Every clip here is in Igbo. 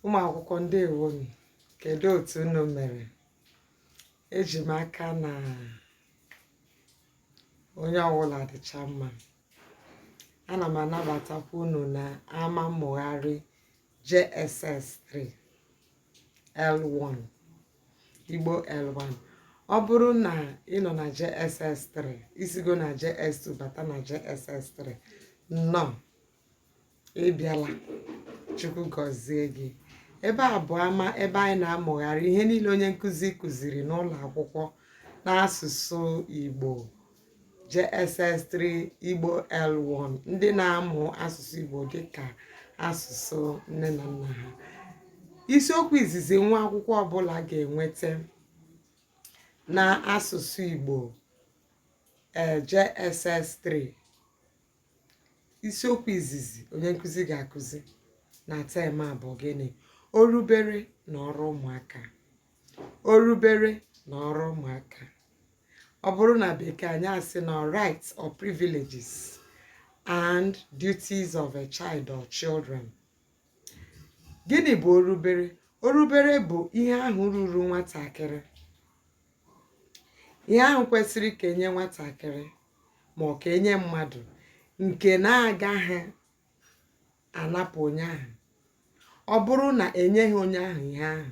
ụmụ akwụkwọ ndewo m kedu otu unu mere eji m aka na onye ọbụla dịcha mma ana m anabatakwa unu na ama mmụgharị JSS 3 L1 Igbo L1 ọ bụrụ na ị nọ na JSS 3 isigo na JS2 bata na JSS 3 nnọọ ị bịala Chukwu gọzie gị ebe a bụ ama ebe anyị na-amụgharị ihe niile onye nkụzi kụziri n'ụlọ akwụkwọ n'asụsụ Igbo JSS3 Igbo L1 ndị na-amụ asụsụ Igbo dịka asụsụ nne na nna ha isiokwu izizi nwa akwụkwọ ọbụla ga-enweta na asụsụ Igbo eh, JSS3 isiokwu izizi onye nkụzi ga-akụzi na term a bụ gịnị orubere na ọrụ ụmụaka orubere na ọrụ ụmụaka ọ bụrụ na bekee anyị asị na rights or privileges and duties of a child or children gịnị bụ orubere orubere bụ ihe ahụ ruru nwatakịrị ihe ahụ kwesịrị ka enye nwatakịrị ma ọ ka enye mmadụ nke na-agaghị anapụ onye ahụ ọ bụrụ na enyeghị onye ahụ ihe ahụ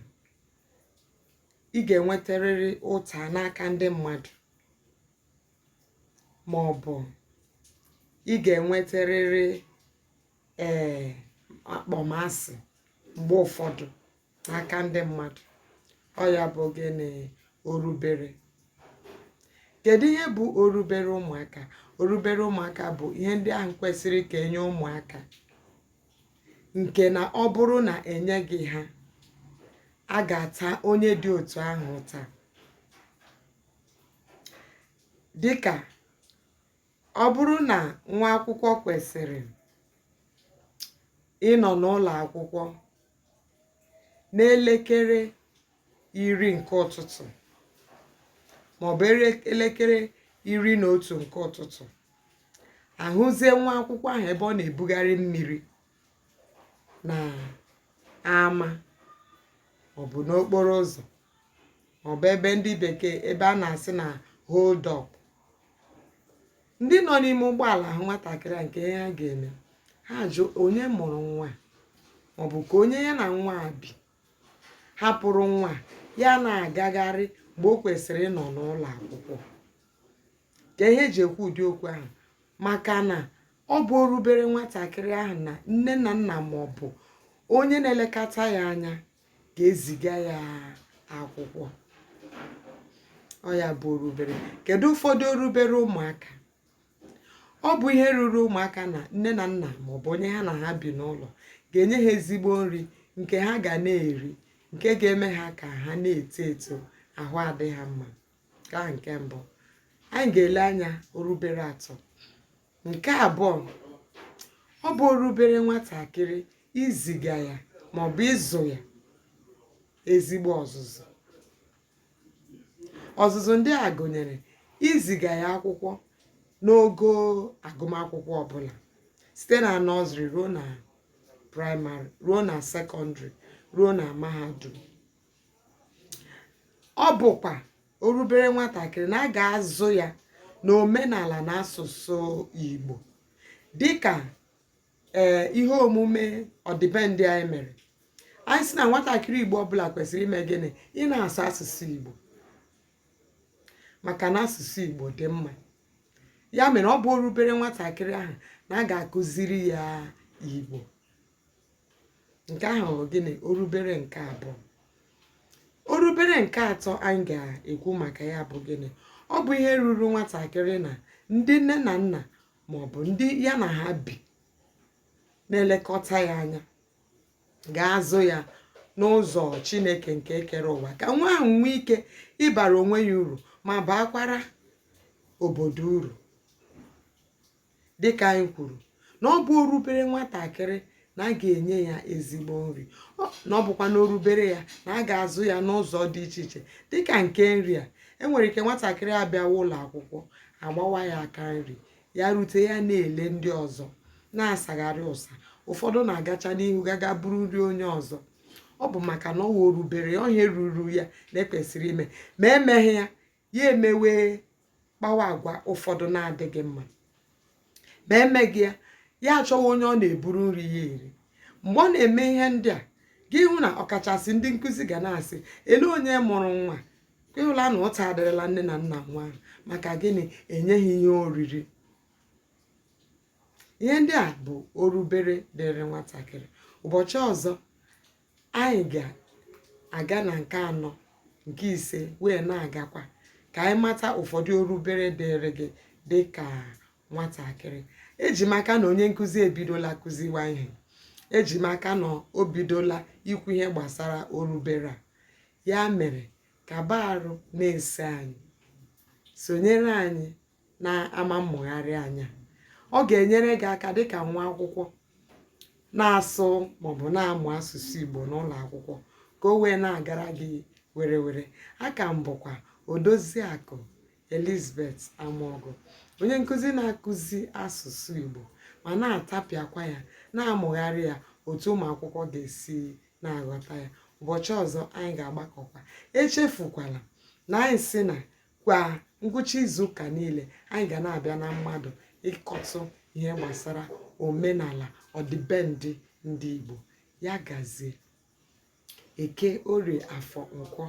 ị ga-enwetarịrị ụta n'aka ndị mmadụ ma ọ bụ ị ga-enwetarịrị ee akpọmasị mgbe ụfọdụ n'aka ndị mmadụ ọ ya bụ gịnị orubere kedu ihe bụ orubere ụmụaka orubere ụmụaka bụ ihe ndị ahụ kwesịrị ka enye ụmụaka nke na ọ bụrụ na enyeghị ha a ga-ata onye dị otu ahụ ụta dịka ọ bụrụ na nwa akwụkwọ kwesịrị ịnọ n'ụlọ akwụkwọ n'elekere iri nke ụtụtụ maọbụ elekere iri na otu nke ụtụtụ ahụzie nwa akwụkwọ ahụ ebe ọ na-ebugharị mmiri na ama maọbụ n'okporo ụzọ maọbụ ebe ndị bekee ebe a na-asị na hold up ndị nọ n'ime ụgbọala hụ nwatakịrị a kee ihe ha ga-eme ha jụ onye mụrụ nwa a? ma ọ bụ ka onye ya na nwa a bi hapụrụ nwa a, ya na-agagharị mgbe o kwesịrị ịnọ n'ụlọ akwụkwọ kee ihe eji ekwu ụdị okwu ahụ maka na ọ bụ orubere nwatakịrị ahụ na nne na nna ma ọ bụ onye na-elekọta ya anya ga-eziga ya akwụkwọ ọ ya bụ orubere kedu ụfọdụ orubere ụmụaka ọ bụ ihe ruru ụmụaka na nne na nna maọbụ onye ha na ha bi n'ụlọ ga-enye ha ezigbo nri nke ha ga na-eri nke ga-eme ha ka ha na-eto eto ahụ adị ha mma nke a nke mbụ anyị ga-ele anya orubere atọ nke abụọ ọ bụ orubere nwatakịrị iziga ya maọbụ ịzụ ya ezigbo ọzụzụ ọzụzụ ndị a gụnyere iziga ya akwụkwọ n'ogo agụmakwụkwọ ọbụla site na nọzrị ruo na praịmarị ruo na sekọndịrị ruo na mahadum ọ bụkwa orubere nwatakịrị na a ga-azụ ya na omenala na asụsụ Igbo dịka ee eh, ihe omume ọdịbendị anyị mere anyị sị na nwatakịrị Igbo ọbụla kwesịrị ime gịnị ị na-asụ asụsụ Igbo maka na asụsụ Igbo dị mma ya mere ọ bụ orubere nwatakịrị ahụ na a ga-akụziri ya Igbo nke ahụ bụ gịnị orubere nke abụọ orubere nke atọ anyị ga-ekwu maka ya bụ gịnị ọ bụ ihe ruru nwatakịrị na ndị nne na nna ma ọ bụ ndị ya na ha bi na-elekọta ya anya ga-azụ ya n'ụzọ chineke nke kere ụwa ka nwa ahụ nwee ike ịbara onwe ya uru ma baakwara obodo uru dịka anyị kwuru na ọ bụ orubere nwatakịrị na a ga-enye ya ezigbo nri na ọ bụkwa na orubere ya na a ga-azụ ya n'ụzọ dị iche iche dịka nke nri a enwere ike nwatakịrị abịawa ụlọ akwụkwọ agbawa ya aka nri ya rute ya na-ele ndị ọzọ na-asagharị ụsa ụfọdụ na-agacha n'ihu gaga buru nri onye ọzọ ọ bụ maka na ọ bụ orubere ọ ihe ruru ya na ekwesịrị ime ma emeghị ya ya emewe kpawa agwa ụfọdụ na-adịghị mma ma emeghị ya ya achọwa onye ọ na-eburu nri ya eri mgbe ọ na-eme ihe ndị a gị hụ na ọkachasị ndị nkụzi ga na-asị ele onye mụrụ nwa a ị hụla na ụta adịrịla nne na nna nwa ahụ maka gịnị enyeghị ihe oriri ihe ndị a bụ orubere dịrị nwatakịrị ụbọchị ọzọ anyị ga-aga na nke anọ nke ise wee na-agakwa ka anyị mata ụfọdụ orubere dịrị gị dị ka nwatakịrị eji m aka na onye nkụzi ebidola kụziwa ihe eji m aka na o bidola ikwu ihe gbasara orubere a ya mere kaba arụ na-eso anyị sonyere anyị na ama mmụgharị anya ọ ga-enyere gị aka dịka nwa akwụkwọ na-asụ maọbụ na-amụ asụsụ Igbo n'ụlọ akwụkwọ ka o wee na-agara gị were were aka m bụkwa Odoziakụ Elizabeth Amogu onye nkụzi na-akụzi asụsụ Igbo ma na-atapịakwa ya na-amụgharị ya otu ụmụ akwụkwọ ga-esi na-aghọta ya ụbọchị ọzọ anyị ga-agbakọkwa echefukwala na anyị si na kwa ngwụcha izu ụka niile anyị ga na-abịa na mmadụ ịkọtụ ihe gbasara omenala ọdịbendị ndị Igbo ya gazie eke orie afọ nkwọ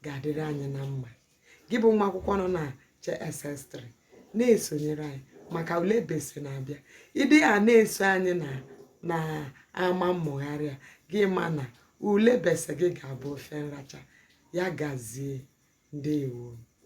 ga-adịrị anyị na mma gị bụ nwa akwụkwọ nọ na JSS3 na-esonyere anyị maka ule BECE na-abịa ịdị a na-eso anyị na ama mmụgharị a gị ma na ule BECE gị ga-abụ ofe nracha ya gazie ndewo